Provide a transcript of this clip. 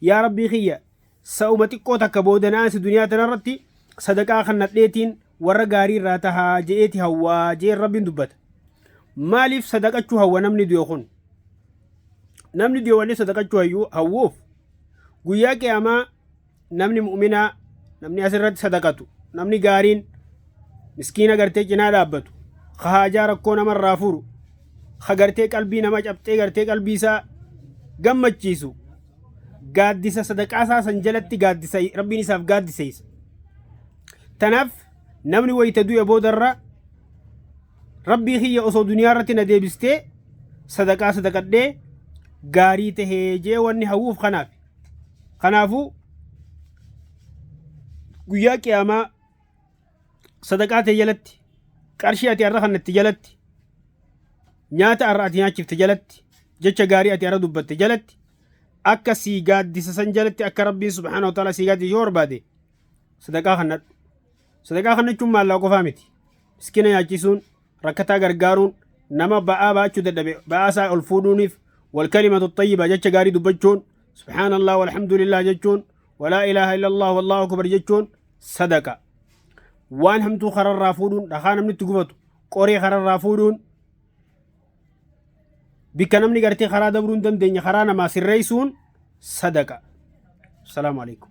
yaa rabbii kiyya sa'uma xiqqoo takka booda naasi duniyaa tanarratti sadaqaa kannadheetiin warra gaarii irraa tahaa je'eeti hawwaa je'een rabbiin dubbata maaliif sadaqachuu hawwa namni du'e kun namni du'e wanni sadaqachuu hayyuu hawwuuf guyyaa qiyaamaa namni mu'minaa namni asirratti sadaqatu namni gaariin miskiina gartee cinaa dhaabbatu ka haajaa rakkoo namarraa furu ka gartee qalbii nama cabxee gartee qalbii isaa gammachiisu gaaddisa sadaqaa isaa san jalatti gaaddisa rabbiin isaaf gaaddiseessa. Tanaaf namni wayita du'e boodarra rabbii kiyya osoo duniyaa irratti na deebistee sadaqaa sadaqadhee gaarii tahee jee wanni hawwuuf kanaaf. Kanaafuu guyyaa qiyaamaa sadaqaa tee jalatti qarshii ati arra kannatte jalatti nyaata arra ati nyaachifte jalatti jecha gaarii ati arra dubbatte jalatti akka sii gaaddisa san jalatti akka rabbiin subhaana wa ta'ala sii gaaddisa yoo barbaade sadaqaa kannadhu sadaqaa kannachuun maallaa qofaa miti miskina nyaachisuun rakkataa gargaaruun nama ba'aa baachuu dadhabe ba'aa isaa ol fuudhuuniif wal kalimatu xayyiba jecha gaarii dubbachuun subhaanallah walhamdulillah jechuun walaa ilaaha illallah wallahu akbar jechuun sadaqa waan hamtuu kararraa fuudhuun dhakaa namni itti gubatu qoree kararraa fuudhuun bikka namni gartee karaa dabruu hin dandeenye karaa namaa sirreessuun sadaqa. Salaamu alaikum.